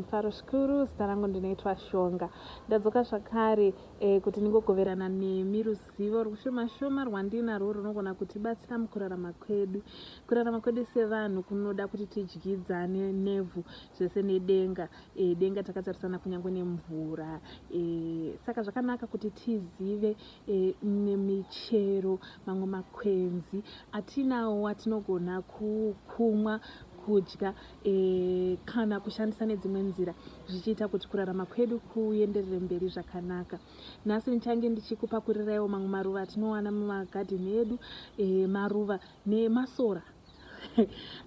mufaro zvikuru zita rangu ndinoitwa shonga ndadzoka zvakare e, kuti ndingogoverana nemi ruzivo rwushomashoma rwandinarwo runogona kutibatsira mukurarama kwedu kurarama kwedu sevanhu kunoda kuti tidyidzane nevhu zvese nedenga e, denga takatarisana kunyange nemvura e, saka zvakanaka kuti tizive e, nemichero mamwe makwenzi atinawo atinogona kumwa kudya e, kana kushandisa nedzimwe nzira zvichiita kuti kurarama kwedu kuenderere mberi zvakanaka nhasi ndichange ndichikupakuriraiwo mamwe maruva atinowana mumagadheni edu e, maruva nemasora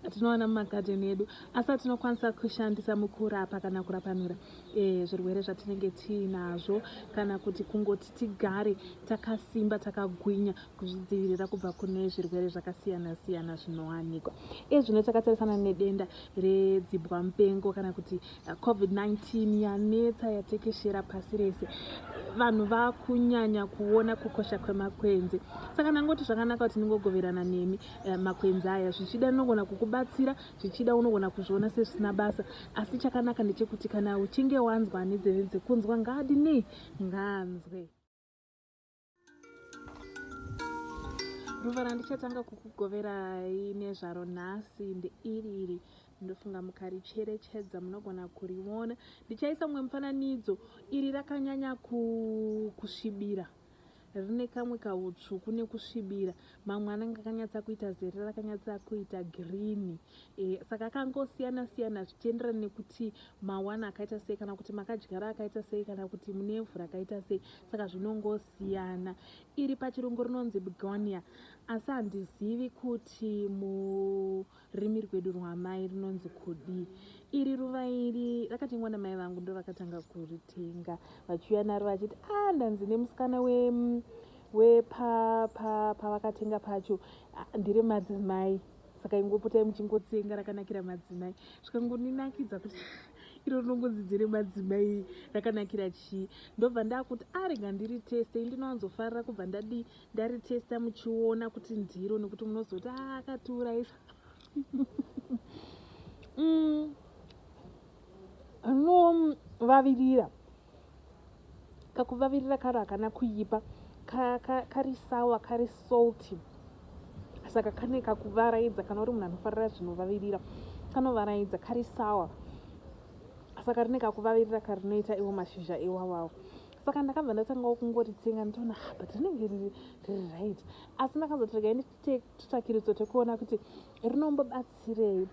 atinowana mumagadheni edu asi atinokwanisa kushandisa mukurapa kana kurapanura e, zvirwere zvatinenge tiinazvo kana kuti kungoti tigare takasimba takagwinya kuzvidzivirira kubva kune zvirwere zvakasiyana siyana zvinowanikwa e, zvino takatarisana nedenda redzibwa mupengo kana kuti eh, covid-19 yanetsa yatekeshera pasi rese vanhu vakunyanya kuona kukosha kwemakwenzi saka ndangoti zvakanaka kuti ndingogoverana nemi Eh, makwenzi aya zvichida anogona kukubatsira zvichida unogona kuzviona sezvisina basa asi chakanaka ndechekuti kana uchinge wanzwa ane dzeve dzekunzwa ngaadi nei ngaanzwe ruva randichatanga kukugoverai nezvaro nhasi ndeiri iri ndofunga mukaricherechedza munogona kuriona ndichaisa mumwe mufananidzo iri rakanyanya kusvibira ku Rine kamwe kahutsvuku nekusvibira. Mamwe anenge akanyatsa kuita zere rakanyatsa kuita green. E, saka akangosiyana siyana zvichienderana nekuti mawana akaita sei kana kuti makadyara akaita sei kana kuti mune evhu rakaita sei. Saka zvinongosiyana. Iri pachirungu rinonzi begonia asi handizivi kuti mu Rurimi rwedu rwaamai runonzi kudii? Iri ruva iri rakatengwa namai vangu ndovakatanga kuritenga vachiuya naro vachiti a ah, ndanzi nemusikana we wepavakatenga pa, pa, pacho ah, ndire madzimai saka ingopotai muchingotsenga rakanakira madzimai zvikangoninakidza kuti iro rinongonzi dzere madzimai rakanakira chii ndobva ndakuti arega ah, ndiri teste ndinowanzofarira kubva ndadii ndaritesta muchiona kuti ndiro nekuti munozoti ah, akatiuraisa mm. anovavirira kakuvavirira karo hakana kuipa kari sawa kari salty saka kane kakuvaraidza kana uri munhu anofarira zvinovavirira kanovaraidza kari sawa saka rine kakuvavirira karinoita iwo mashizha iwawawo saka ndakabva ndatangawo kungoritsenga nditoona ah, but rinenge riri right asi ndakazoti regai nditutakiritso tekuona kuti rinombobatsirei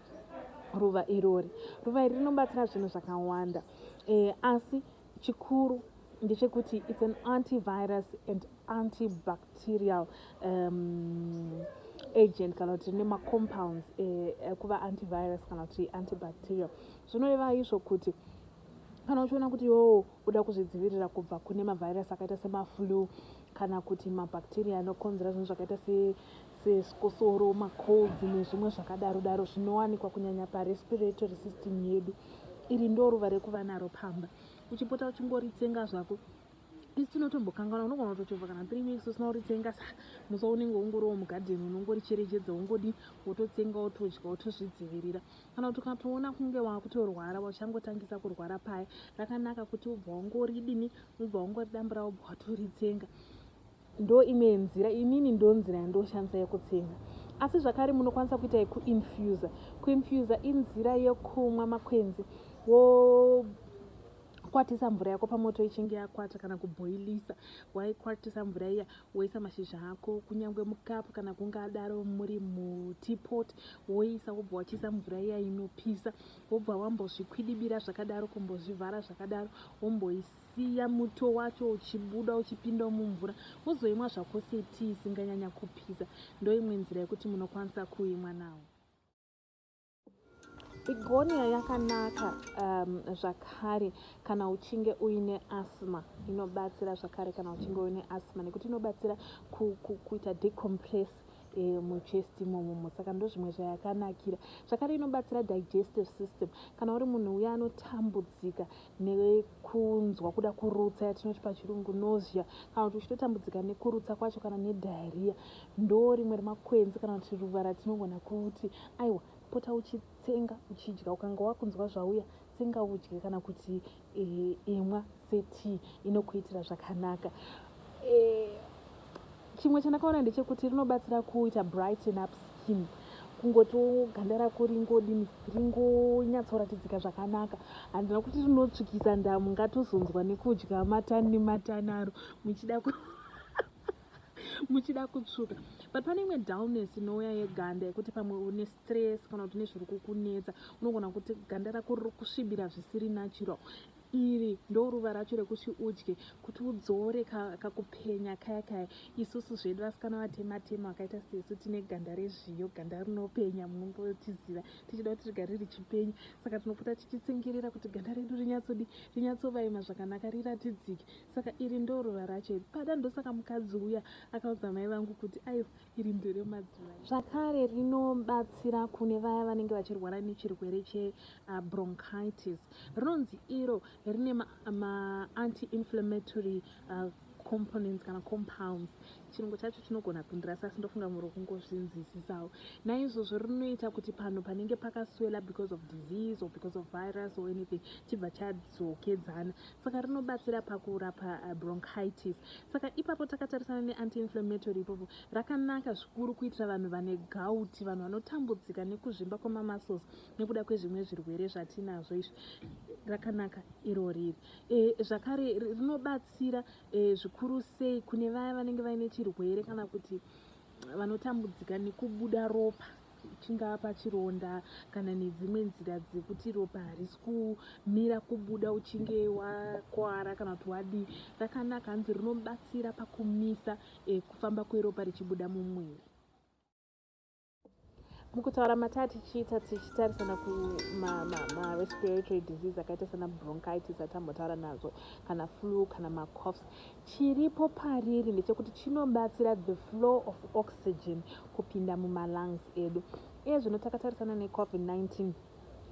ruva irori ruva iri rinobatsira zvinhu zvakawanda eh, asi chikuru ndechekuti its an antivirus and antibacterial um, agent kana kuti nemacompounds eh, eh, kuva antivirus kana kuti antibacterial zvinoreva izvo kuti Kana uchiona kuti iwewo uda kuzvidzivirira kubva kune mavhairasi akaita semaflu kana kuti mabhakteriya anokonzera zvinhu zvakaita sechikosoro, macolds nezvimwe zvakadaro daro zvinowanikwa kunyanya parespiratory system yedu, iri ndoruva rekuva naro pamba. Uchipota uchingoritsenga zvako. Isu tinotombokanganwa, unogona kutochovha kana three weeks usina kuritsenga, sa musa unenge ungoriwo mugadheni unongoricherechedza, wongodii, wototsenga, wotodya, wotozvidzivirira. Kana kuti ukatoona kunge wakutorwara wachangotangisa kurwara paya rakanaka kuti ubva wangoridini ubva wangoridambura ubva watoritsenga ndo imwe nzira inini ndo nzira yandoshandisa yekutsenga asi zvakare munokwanisa kuita yekuinfusa kuinfusa inzira yekumwa makwenzi wo kwatisa mvura yako pamoto ichinge yakwata kana kubhoilisa waikwatisa mvura iya Woisa mashizha ako kunyangwe mukapu kana kungadaro muri muteapot woisa wobva wachiisa mvura iya inopisa wobva wambozvikwidibira zvakadaro kumbozvivhara zvakadaro womboisiya muto wacho uchibuda uchipindawo mumvura wozoimwa zvako setii isinganyanya kupisa ndoimwe nzira yekuti munokwanisa kuimwa nawo Bigonia yakanaka um, zvakare kana uchinge uine asthma inobatsira zvakare kana uchinge uine asthma nekuti inobatsira ku, ku, kuita decompress e, muchest imomomo saka ndozvimwe zvayakanakira zvakare inobatsira digestive system kana uri munhu uya anotambudzika nekunzwa kuda kurutsa yatinoti pachirungu nausea kana kuti uchitotambudzika nekurutsa kwacho kana nediarrhea ndoo rimwe remakwenzi kana kuti ruva ratinogona kuti aiwa pota uchitsenga uchidya ukanga wakunzwa zvauya tsenga udye kana kuti e, imwa setii inokuitira zvakanaka e, Chimwe chandakaona ndechekuti rinobatsira kuita brighten up skin kungotiwo ganda rako ringodini ringonyatsoratidzika zvakanaka handina kuti rinotsvukisa ndamu ngatozonzwa nekudya matani nematanaro muchida ku muchida kutsvuka but pane imwe dullness inouya yeganda yekuti pamwe une stress kana kuti une zviri kukunetsa unogona kuti ganda rako riri kusvibira zvisiri natural Iri ndoruva racho rekuti udye kuti udzore kakupenya kaya kaya. Isusu zvedu vasikana vatema tema vakaita sesu tine ganda rezviyo, ganda rinopenya munombotiziva tichida kuti rigare richipenya. Saka tinopota tichitsingirira kuti ganda redu rinyatsodi rinyatsovaima zvakanaka riratidzike. Saka iri ndoruva racho iri. Pada ndosaka mukadzi uya akaudza mai vangu kuti aiwa. Iri nderemadzimai zvakare rinobatsira kune vaya vanenge vachirwara nechirwere chebronchitis. Rinonzi iro rine maanti-inflammatory uh, components kana compounds chirungu chacho chinogona kundirasa asi ndofunga muri kungozvinzwisisawo naizvozvo rinoita kuti panhu panenge pakaswela because of disease or because of virus or anything chibva chadzokedzana saka rinobatsira pakurapa uh, bronchitis saka ipapo takatarisana neantiinflammatory ipapo rakanaka zvikuru kuitira vanhu vane gauti vanhu vanotambudzika nekuzvimba kwemamuscles nekuda kwezvimwe zvirwere zvatinazvo izvi rakanaka iro riri e, zvakare rinobatsira e, zvikuru sei kune vaya vanenge vaine chirwere kana kuti vanotambudzika nekubuda ropa chingava pachironda kana nedzimwe nzira dzekuti ropa harisi kumira kubuda uchinge wakwara kana kuti wadii rakanaka hanzi rinobatsira pakumisa e, kufamba kweropa richibuda mumwiri mukutaura mataa tichiita tichitarisana kumarespiratory ma, ma disease akaita sana bronchitis atambotaura nazo kana flu kana macoffs Chiripo pariri ndechekuti chinobatsira the flow of oxygen kupinda mumalungs edu. Iye zvino takatarisana neCovid-19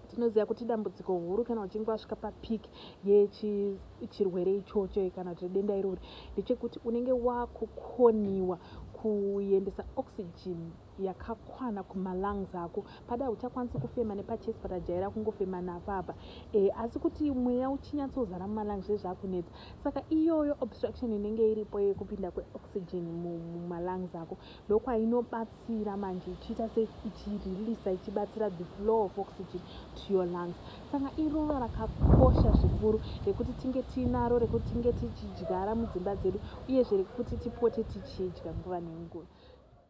tinoziva kuti idambudziko huru kana uchinge wasvika papeak yechirwere ichocho kana kuti denda irori ndechekuti unenge wakukoniwa kuendesa oxygen yakakwana kuma lungs ako pada hauchakwanisi kufema nepa chest but ajaira kungofema napo apa e, asi kuti mweya uchinyatsozara muma lungs zvezvakunetsa saka iyoyo obstruction inenge iripo yekupinda kwe oxygen muma lungs ako ndokwainobatsira manje ichiita se ichireleasa ichibatsira the flow of oxygen to your lungs saka iruva rakakosha zvikuru rekuti tinge tiinaro rekuti tinge tichidyara mudzimba dzedu uyezve rekuti tipote tichidya nguva nenguva